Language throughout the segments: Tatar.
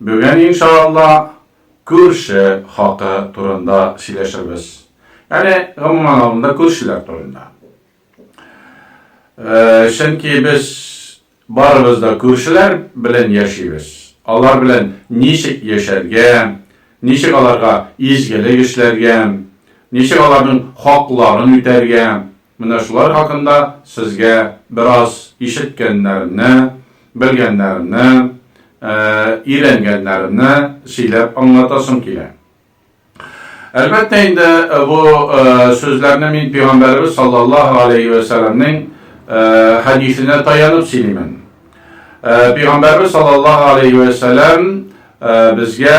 Бүген иншаалла күрше хакы турында сөйләшербез. Яни гомумән алганда күршеләр турында. Чөнки без барыбыз да күршеләр белән яшибез. Алар белән ничек яшәргә, ничек аларга изгелек эшләргә, ничек аларның хакларын үтәргә, Менә шулар хакында сезгә бераз ишеткәннәремне, белгәннәремне, өйрәнгәннәремне сөйләп аңлатасым килә. Әлбәттә инде, бу сүзләрне мин Пигамбәребез саллаллаһу галәйһи вә сәләмнең хәдисенә таянып сөйлимен. Пигамбәребез саллаллаһу галәйһи вә сәләм безгә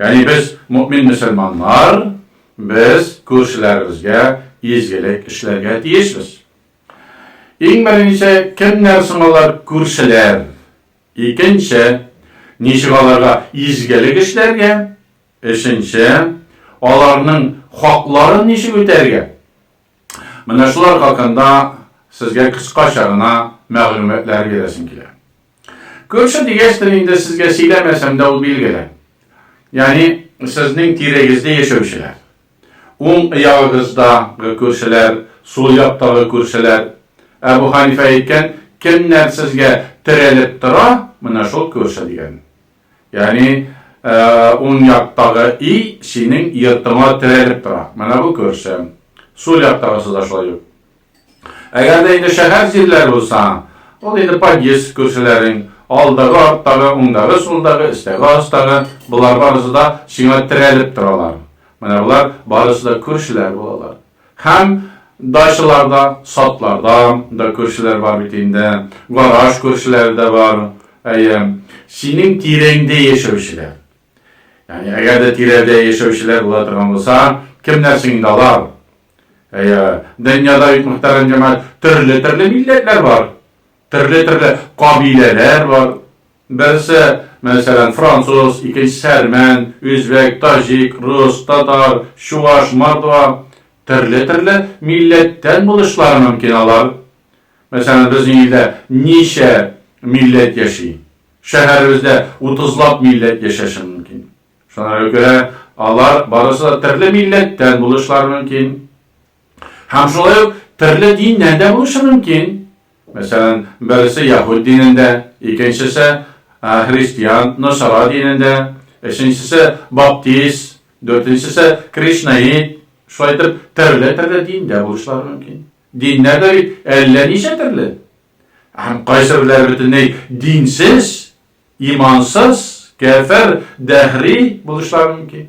Ягъни без, мөэмин мөселманнар, без күршеләребезгә изгелек эшләргә тиешбез. Иң беренче, кемнәр соң алар күршеләр? Икенче, ничек аларга изгелек эшләргә? Өченче, аларның хакларын ничек үтәргә? Менә шулар хакында сезгә кыскача гына мәгълүматлар бирәсем килә. Күрше дигәчтер инде сезгә сөйләмәсәм дә ул билгеле. Ягъни сезнең тирәгездә яшәүчеләр. Уң ягыгыздагы күршеләр, сул яктагы күршеләр. Әбу Ханифа әйткән, кемнәр сезгә терәлеп тора, менә шул күрше дигән. Ягъни, уң яктагы i синең йортыңа терәлеп тора. Менә бу көрсем. Сул яктагысы да шулай ук. Әгәр дә инде шәһәр җирләре булса, ул инде подъезд көрселәрең, алдагы, арттагы, уңдагы, сулдагы, өстәге, астагы, болар барысы да сиңа терәлеп торалар. Менә болар барысы да күршеләр булалар. Һәм дачалар да, садлар да, да күршеләр бар бит инде, гараж күршеләре дә бар, әйе, синең тирәңдә яшәүчеләр. Ягъни, әгәр дә тирәдә яшәүчеләр була торган булса, кемнәр соң инде алар? Әйе, дөньяда бит, мөхтәрәм җәмәгать, төрле-төрле милләтләр бар. Төрле-төрле кабиләләр бар. Берсе, мәсәлән, француз, икенчесе, әрмән, үзбәк, таҗик, рус, татар, чуваш, мордва. Төрле-төрле милләттән булышлары мөмкин алар. Мәсәлән, безнең илдә ничә милләт яши? Шәһәребездә утызлап милләт яшәшен мөмкин. Шуңа күрә алар барысы да төрле милләттән булышлары мөмкин. Һәм шулай ук төрле диннән дә булышы мөмкин. Мәсәлән, берсе яһүд динендә, икенчесе, христиан, носара динендә, өченчесе, баптист, дүртенчесе, кришнаит, шулай итеп, төрле-төрле диндә булышлары мөмкин. Диннәр дә бит әллә ничә төрле. Һәм кайсыберләре бөтенләй динсез, имансыз, кәфер, дәһри булышлары мөмкин.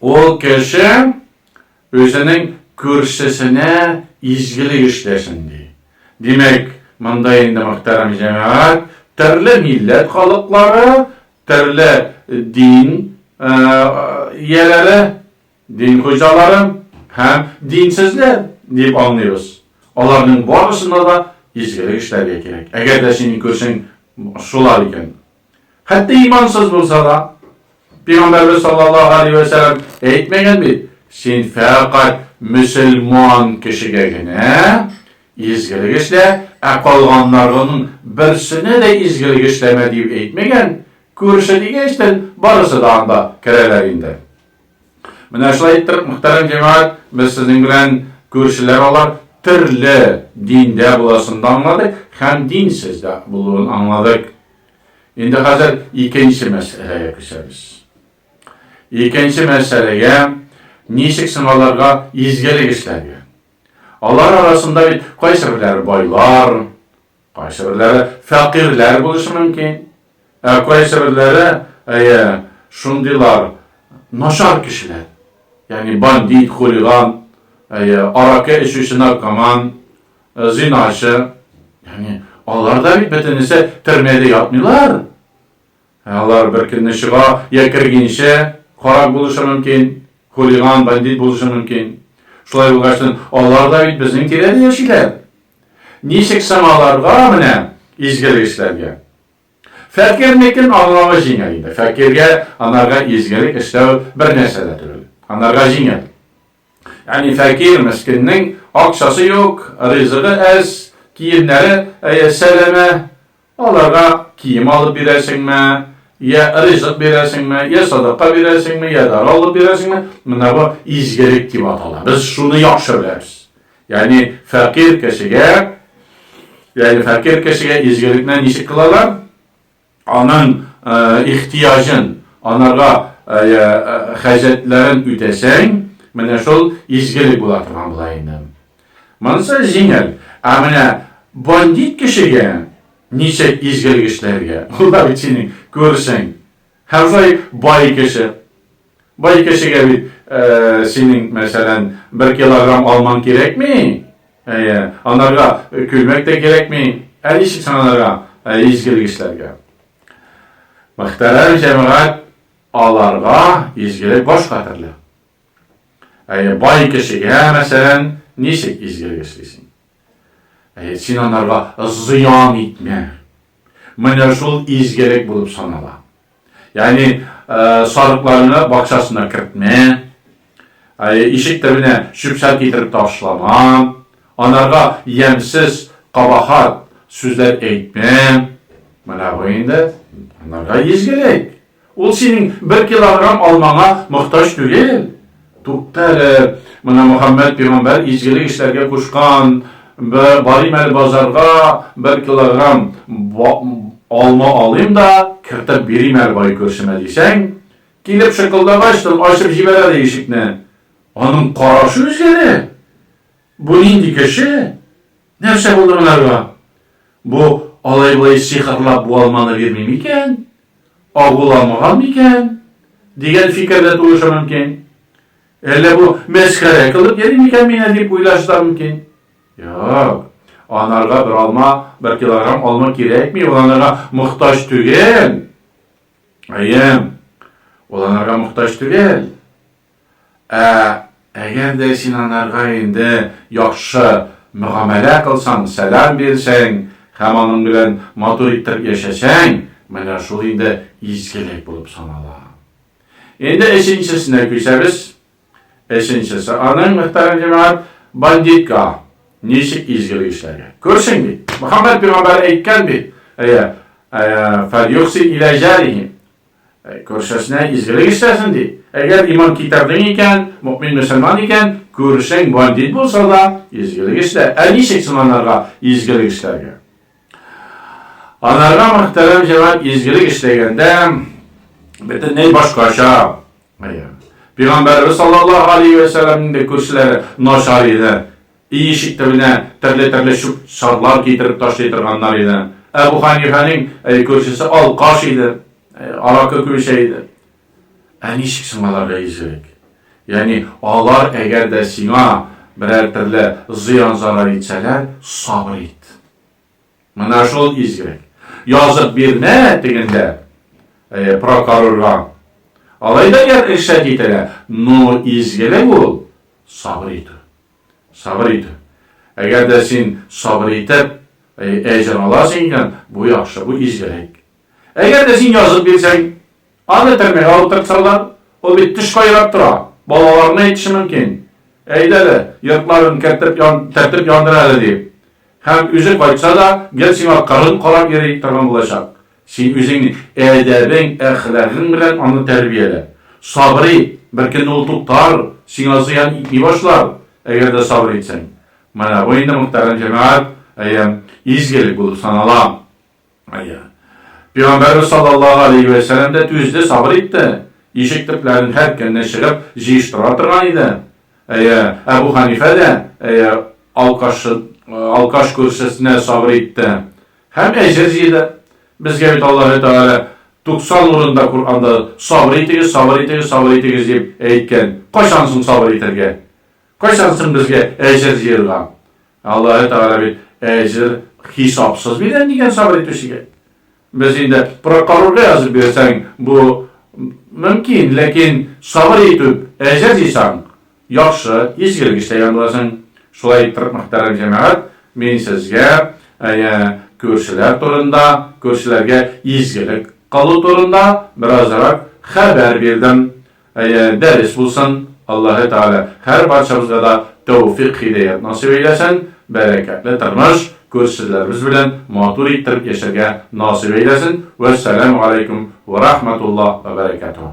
Ул кеше үзенең күршесенә изгелек эшләсен ди. Димәк, монда инде, мөхтәрәм җәмәгать, төрле милләт халыклары, төрле дин ияләре, дин хуҗалары һәм динсезләр дип аңлыйбыз. Аларның барысына да изгелек эшләргә кирәк. Әгәр дә синең күршең шулар икән, Хәтта имансыз булса да, Пәйгамбәрбез саллаллаһу алейһи ва сәлләм әйтмәгән бит, син фәкать мөселман кешегә генә изгелек эшлә, ә калганнарының берсенә дә изгелек эшләмә диеп әйтмәгән, күрше дигәчтен, барысы да анда керәләр инде. Менә шулай итеп, мөхтәрәм җәмәгать, без сезнең белән күршеләр алар төрле диндә буласын да аңладык һәм динсез дә булуын аңладык. Инде хәзер икенче мәсьәләгә күчәбез. Икенче мәсьәләгә ничек соң аларга изгелек эшләргә? Алар арасында бит кайсы берләре байлар, Кайсыберләре фәкыйрьләр булышы мөмкин, ә кайсыберләре, әйе, шундыйлар начар кешеләр, ягъни бандит, хулиган, әйе, аракы эчүче наркоман, зиначы, ягъни алар да бит бөтенесе төрмәдә ятмыйлар. Ә алар бер көнне чыга, я кергенче карак булышы мөмкин, хулиган, бандит булышы мөмкин. Шулай булгач, алар да бит безнең тирәдә яшиләр. Ничек соң аларга, менә изгелгечләргә? Фәкыйрьнекен аңлавы җиңел инде. Фәкыйрьгә анарга изгелек эшләү бер нәрсә дә түгел. Анарга җиңел. Ягъни фәкыйрь, мескеннең акчасы юк, ризыгы әз, киемнәре, әйе, сәләмә, Аларга кием алып бирәсеңме, йә ризык бирәсеңме, йә садака бирәсеңме, йә дара алып бирәсеңме, менә бу изгелек дип атала. Без шуны яхшы беләбез. Ягъни фәкыйрь кешегә, ягъни фәкыйрь кешегә изгелекне ничек кылалар? Аның ихтияҗын, анарга хаҗәтләрен үтәсәң, менә шул изгелек була торган була инде. Монсы җиңел, ә менә бандит кешегә, ничек изгелгечләргә, улар бит синең күршең, һәм шулай бай кеше. Бай кешегә бит синең, мәсәлән, бер килограмм алмаң кирәкми, әйе, анарга күлмәк тә кирәкми, ә ничек соң анарга, изгелгечләргә? Мөхтәрәм җәмәгать, аларга изгелек башка төрле. Ә бай кешегә, мәсәлән, ничек изгелек эшлисең? Әйе, син анарга зыян итмә. Менә шул изгелек булып санала. Ягъни, сарыкларны бакчасына кертмә, ишек төбенә чүп-чар китереп ташлама, анарга ямьсез, кабахат сүзләр әйтмә. Менә бу инде анарга изгелек. Ул синең бер килограмм алмаңа мохтаҗ түгел. Тукта әле, менә Мөхәммәд пигамбәр изгелек эшләргә кушкан, барыйм әле базарга, бер килограмм алма алыйм да, кертеп бирим әле бай күршемә, дисәң, килеп шыкылдагачтын ачып җибәрә дә ишекне. Аның карашы үзгәрә. Бу нинди кеше? Нәрсә булды монарга? Бу алай-болай сихерлап бу алманы бирми микән? Агул алмаган микән? дигән фикер дә туыша мөмкин. Әллә бу мәсхәрә кылып йөри микән мине дип уйлашса мөмкин. Юк. Анарга бер алма, бер килограмм алма кирәкми, ул анарга мохтаҗ түгел. Әйе. Ул анарга мохтаҗ түгел. Ә әгәр дә син анарга инде яхшы мөгамәлә кылсаң, сәлам бирсәң һәм аның белән матур иттереп яшәсәң, менә шул инде изгелек булып санала. Инде өченчесенә күчәбез. Өченчесе аның, мөхтәрәм җәмәгать, бандитка ничек изгелек эшләргә. Күрсен бит, Мөхәммәд пигамбәр әйткән бит, әйә, фәльюхсин илә җарихи, Күршесенә изгелек эшләсен ди. Әгәр иман китердең икән, мөэмин-мөселман икән, күршең бандит булса да, изгелек эшлә. Ә ничек соң анарга изгелек эшләргә? Анарга, мөхтәрәм җәмәгать, изгелек эшләгәндә бөтенләй башкача. Пәйгамбәребез саллаллаһу алейһи вә сәлләмнең дә күршеләре начар иде. Өй ишек төбенә төрле-төрле чүп-чарлар китереп ташлый торганнар иде. Әбү Хәнифәнең күршесе алкаш иде, аракы күп эчә иде. Ә ничек соң аларга изгелек? Ягъни алар әгәр дә сиңа берәр төрле зыян-зарар итсәләр, сабыр ит. Менә шул изгелек. Язып бирмә тегендә прокорорга. Алай да иршәт ителә, но изгелек ул, сабыр итү. Сабыр итү. Әгәр дә син сабыр итеп, әҗер аласың икән, бу яхшы, бу изгелек. Әгәр дә син язып бирсәң, аны төрмәгә утыртсалар, ул бит төш кайрап тора, балаларына әйтеше мөмкин. Әйдә әле, йортларын кертеп, тәртип яндыр әле, дип. Һәм үзе кайтса да, гел сиңа кырын карап йөри торган булачак. Син үзең әдәбең, әхлагың белән аны тәрбиялә. Сабыр ит, беркөнне ул туктар, сиңа зыян итми башлар, әгәр дә сабыр итсәң. Менә бу инде, мөхтәрәм җәмәгать, әйе, изгелек булып санала. Әйе. Пигамбәрбез саллаллаһу галәйһи вә сәлам дә түзде, сабыр итте. Ишек төпләрен һәр көнне чыгып, җыештыра торган иде. Әйе, Әбү Ханифә дә, әйе, алкаш алкаш күршесенә сабыр итте. Һәм әҗер җыйды. Безгә бит Аллаһы Тәгалә туксан урында Коръәнда сабыр итегез, сабыр итегез, сабыр итегез дип әйткән. Кайчан соң сабыр итәргә? Кайчан соң безгә әҗер җыерга? Ә Аллаһы Тәгалә бит әҗер хисапсыз бирә дигән сабыр итүчегә. Без инде прокурорга язып бирсәң, бу мөмкин, ләкин сабыр итүп әҗер җыйсаң, Яхшы, изгелек эштә янлыгасың. Шулай иттереп мөхтәрәм җәмәгать, мин сезгә әйе, күршеләр турында, күршеләргә изгелек кылу турында беразрак хәбәр бирдем. Әйе, дәрес булсын. Аллаһы Тәгалә һәр барчабызга да тәүфик-һидаять насыйп әйләсен, бәрәкәтле тормыш, күршеләребез белән матур иттереп яшәргә насыйп әйләсен. Вәссәламү галәйкүм вә рахмәтуллаһ вә бәрәкәтүһ.